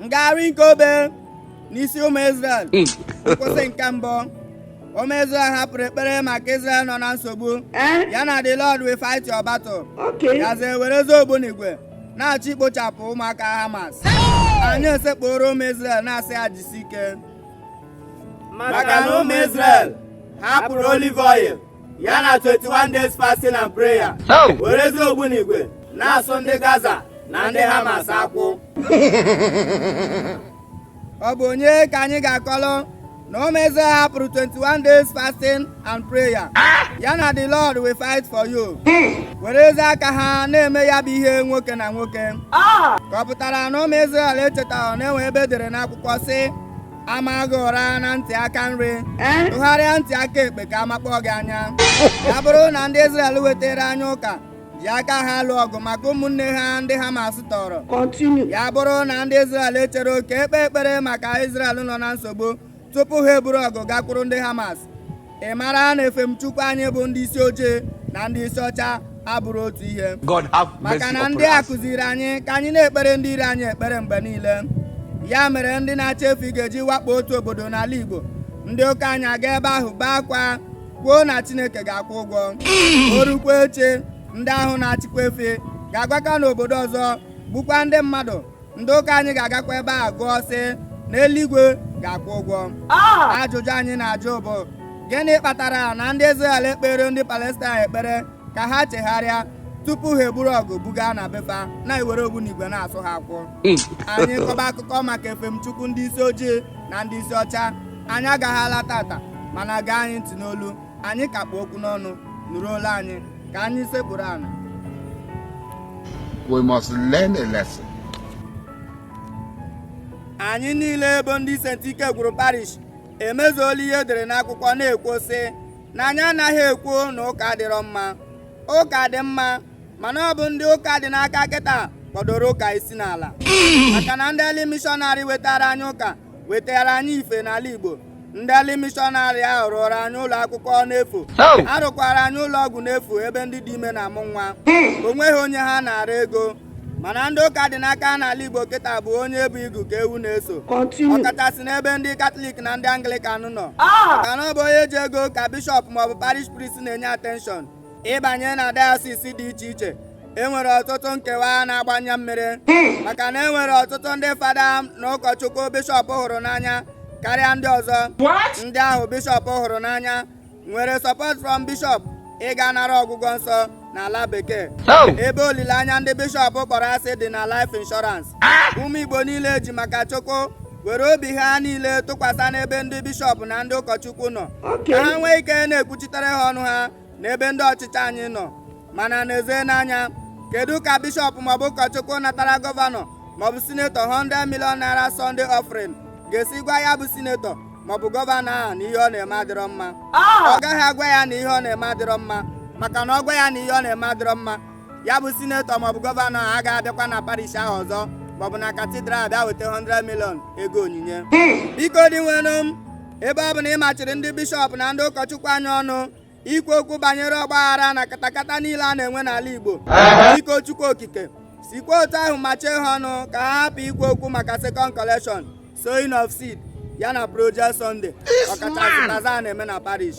ngagharị nke obe n'isi ụmụ Izrel hmm. nkwụsị nke mbụ ụmụ Izrel hapụrụ ekpere maka Izrel nọ na nsogbu eh? ya na the Lord will fight your battle gazie werezi ogbunigwe na-achọ ikpochapụ ụmụaka Hamas anyị esekpuru ụmụ Izrel na-asị ha jisi ike maka na ụmụ Izrel hapụrụ olive oil ya na 21 days fasting and prayer werezi ogbunigwe na-asụ ndị gaza na ndị hamas akwụ ọ bụ onye ka anyị ga-akọlụ na ụmụ Izrel hapụrụ 21 days fasting and prayer ah! ya na the lord will fight for you hmm. werezi aka ha na-eme ya bụ ihe nwoke na nwoke ah! ka ọ pụtara na ụmụ Izrel echetaghị na e nwe ebe e dere n'akwụkwọ sị a maa gị ụra na ntị aka nri eh? tụgharịa ntị aka ekpe ka a makpọ gị anya ya bụrụ na ndị Izrel wetara anyị ụka ji aka ha lụọ ọgụ maka ụmụnne ha ndị Hamas tọọrọ ya bụrụ na ndị Izrel echero ka e kpee ekpere maka Izrel nọ na nsogbu tupu ha eburu ọgụ gakwuru ndị Hamas ị mara na efemchukwu anyị bụ ndị isi ojii na ndị isi ọcha abụrọ otu ihe maka na ndị a kụziri anyị ka anyị na-ekpere ndị iro anyị ekpere mgbe niile ya mere ndị na-achị efi ga-eji wakpo otu obodo n'ala Igbo ndị ụka anyị aga ebe ahụ bee akwa kwuo na Chineke ga-akwụ ụgwọ mm. o rukwa echi ndị ahụ na-achịkwa efi ga-agakwa n'obodo ọzọ gbukwa ndị mmadụ ndị ụka anyị ga-agakwa ebe a gụọ sị na eluigwe ga-akwụ ụgwọ ah! ajụjụ anyị na-ajụ bụ gịnị kpatara na ndị Izrel ekpeere ndị Palestine ekpere ka ha chegharịa tupu ha eburu ọgụ buga na be fa na-ewere ogbunigwe na-asụ ha akwụ hmm. anyị kọba akụkọ maka efemchukwu ndị isi ojii na ndị isi ọcha anyị agaghị ala taata mana gee anyị ntị n'olu anyị ka kpụ okwu n'ọnụ nụrụ olu anyị ka anyị sekpuru ana we must learn a lesson. anyị niile bụ ndị St. Ike gwụrụ parish emezuola ihe e dere n'akwụkwọ na-ekwu sị na anyị anaghị ekwu na ụka adịrọ mma ụka dị mma mana ọ bụ ndị ụka dị n'aka kịta kpọdoro ụka isi n'ala maka na ndị early mishọnarị wetara anyị ụka wetara anyị ife n'ala Igbo ndị early mishọnarị ahụ rụụrụ anyị ụlọ akwụkwọ n'efu rụkwaara anyị ụlọ ọgwụ n'efu ebe ndị dị ime na-amụ nwa hmm. o nweghị onye ha naara ego mana ndị ụka dị n'aka n'ala Igbo kịta bụ onye bu igu ka ewu na-eso ọkachasị n'ebe ndị katọlik na ndị anglikan nọ ah! maka na ọ bụ onye ji ego ka bishọp maọbụ parish priest na-enye atenshọn ịbanye na dayọsis dị iche iche enwere ọtụtụ nkewa na-agba anya mmiri maka na enwere ọtụtụ ndị fada na ụkọchukwu bishọp hụrụ n'anya karịa ndị ọzọ ndị ahụ bishọp hụrụ n'anya nwere support from bishọp ịga nara ọgwụgwọ nsọ n'ala bekee oh! ebe olileanya ndị bishọp kpọrọ asị dị na life insurance ah! ụmụ igbo niile ji maka chukwu were obi ha niile tụkwasị n'ebe ndị bishọp na ndị ụkọchukwu nọ ka ha nwee ike na-ekwuchitere ha ọnụ ha n'ebe ndị ọchịchị anyị nọ mana n'ezie n'anya kedu ka bishọp maọbụ ụkọchukwu natara gọvanọ maọbụ sinetọ 100 million naira Sunday offering ga-esi gwa ya bụ sinetọ maọbụ gọvanọ ahụ na ihe ọ na-eme adịrọ mma ah! ọ gaghị agwa ya na ihe ọ na-eme adịrọ mma maka na ọ gwa ya na ihe ọ na-eme adịrọ mma ya bụ sinetọ maọbụ gọvanọ a agaghị abịakwa na parish ahụ ọzọ maọbụ na katidral bịa weta 100 million ego onyinye biko dinwenụ m ebe ọ bụ na ị machiri ndị bishọp na ndị ụkọchukwu anyị ọnụ ikwu okwu banyere ọgbaghara na katakata niile a na-enwe n'ala igbo biko chukwu okike sikwa otu ahụ machie ha ọnụ ka ha hapụ ikwu okwu maka second collection sowing of seed ya na project sunday ọkachasị bazaar a na-eme na parish